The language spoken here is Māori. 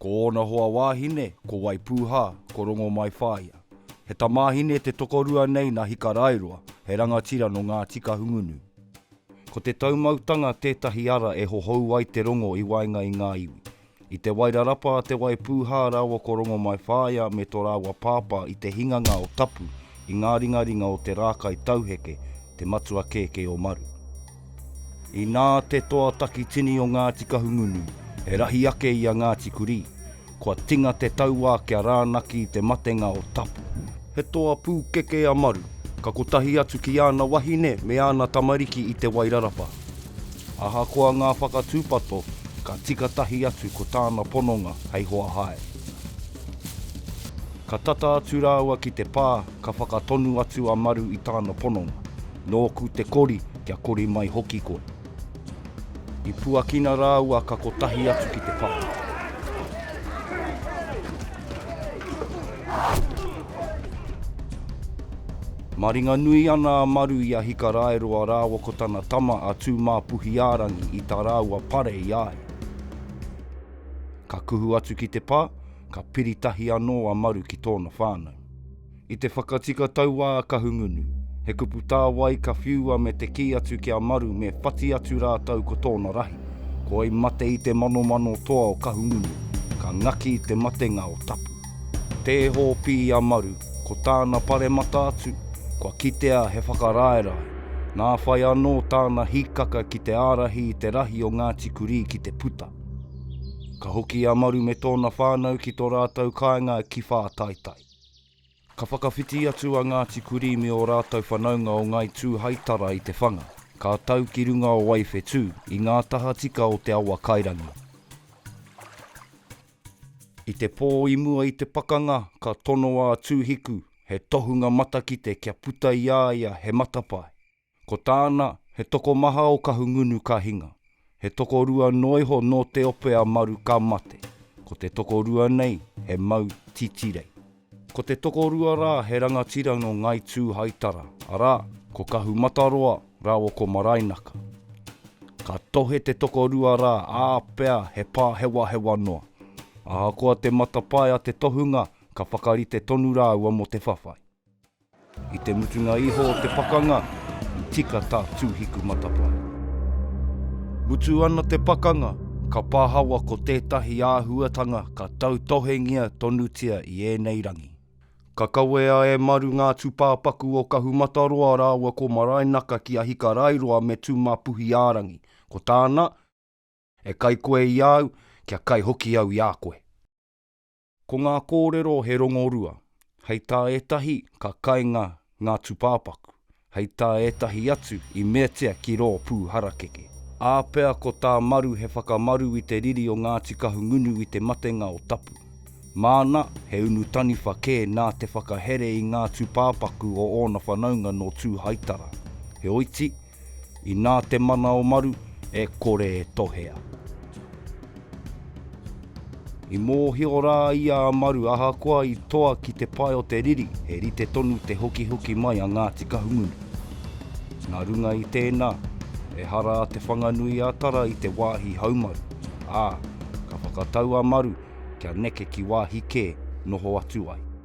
Ko ōna hoa wāhine, ko Waipūhā, ko Rongomaiwhāia. He tamāhine te tokorua nei nā Hikaraeroa, he rangatira nō Ngāti Kahungunu. Ko te taumautanga tētahi ara e hohou ai te rongo i waenga i ngā iwi. I te wairarapa a Te Waipūhā rāua ko Rongomaiwhāia me tō rāua pāpā i te hinganga o Tapu i ngā ringaringa o te rākai tauheke, te matua kēkē o Maru. Inā te toa takitini o Ngāti Kahungunu e rahi ake i a Ngāti Kurī, kua tinga te tauā kia rānaki i te matenga o Tapu. He toa pūkeke a Maru, ka kotahi atu ki āna wahine me āna tamariki i Te Wairarapa. Ahakoa ngā whakatūpato, ka tika tahi atu ko tāna pononga hei hoa hae. Ka tata atu rāua ki te pā, ka whakatonu atu a Maru i tāna pononga, Nōku te kori, kia kori mai hoki koe. I puakina rāua ka kotahi atu ki te papa. Maringanui ana a Maru i a Hikaraeroa rāua ko tana tama a Tūmāpuhiārangi i tā rāua pare i a ia. Ka kuhu atu ki te pā, ka piri tahi anō a Maru ki tōna whānau. I te whakatika tauā a Kahungunu, he kupu tāwai ka whiua me te kī atu ki a Maru me whati atu rātou ko tōna rahi, ko wai mate i te manomano toa o Kahungunu, ka ngaki i te matenga o Tapu. Tē hōpī a Maru, ko tāna paremata atu, kua kitea he whakaraerae, nā whai anō tāna hīkaka ki te ārahi i te rahi o Ngāti Kurī ki te puta. Ka hoki a Maru me tōna whānau ki tō rātou kāinga ki Whātaitai. Ka whakawhiti atu a Ngāti Kurī me ō rātou whanaunga o Ngāi Tūhaitara i te whanga, ka tau ki runga o Waiwhetū, i ngā tahatika o te awa kairangi. I te pō i mua i te pakanga, ka tonoa a Tūhiku, he tohunga matakite kia puta i a ia he matapae. Ko tāna, he tokomaha o Kahungunu ka hinga. He tokorua noa iho nō te ope a Maru ka mate. Ko te tokorua nei, he mau titirei. Ko te tokorua rā, he rangatira nō Ngāi Tūhaitara, arā, ko Kahumataroa rāua ko Maraenaka. Ka tohe te tokorua rā, ā, pea he pāhewahewa noa. Ahakoa te matapae a te tohunga, ka whakarite tonu rāua mō te whawhai. I te mutunga iho o te pakanga, i tika tā Tūhiku matapae. Mutu ana te pakanga, ka pahawa ko tētahi āhuatanga ka tautohengia tonutia i ēnei rangi. Ka kawea e Maru ngā tūpāpaku o Kahumataroa rāua ko Maraenaka ki Ahikarairoa me Tūmapuhi-ā-rangi. Ko tāna, E kai koe i a au, kia kai hoki au i a koe. Ko ngā kōrero he rongorua, hei tā ētahi ka kainga ngā tūpāpaku, hei tā ētahi atu i meatia ki rō pū harakeke. Ā pea ko tā Maru he whakamaru i te riri o Ngāti Kahungunu i te matenga o Tapu. Māna, he unu taniwha kē nā te whakahere i ngā tūpāpaku o ōna whanaunga nō Tūhaitara. Heoiti, Inā te mana o Maru e kore e tohea. I mōhio rā ia a Maru ahakoa i toa ki te pae o te riri he rite tonu te hokihoki mai a Ngāti Kahungunu. Nā runga i tēnā, ehara a Te Whanganui-a-Tara i te wāhi haumaru, ā, ka whakatau a Maru kia neke ki wāhi kē noho atu ai.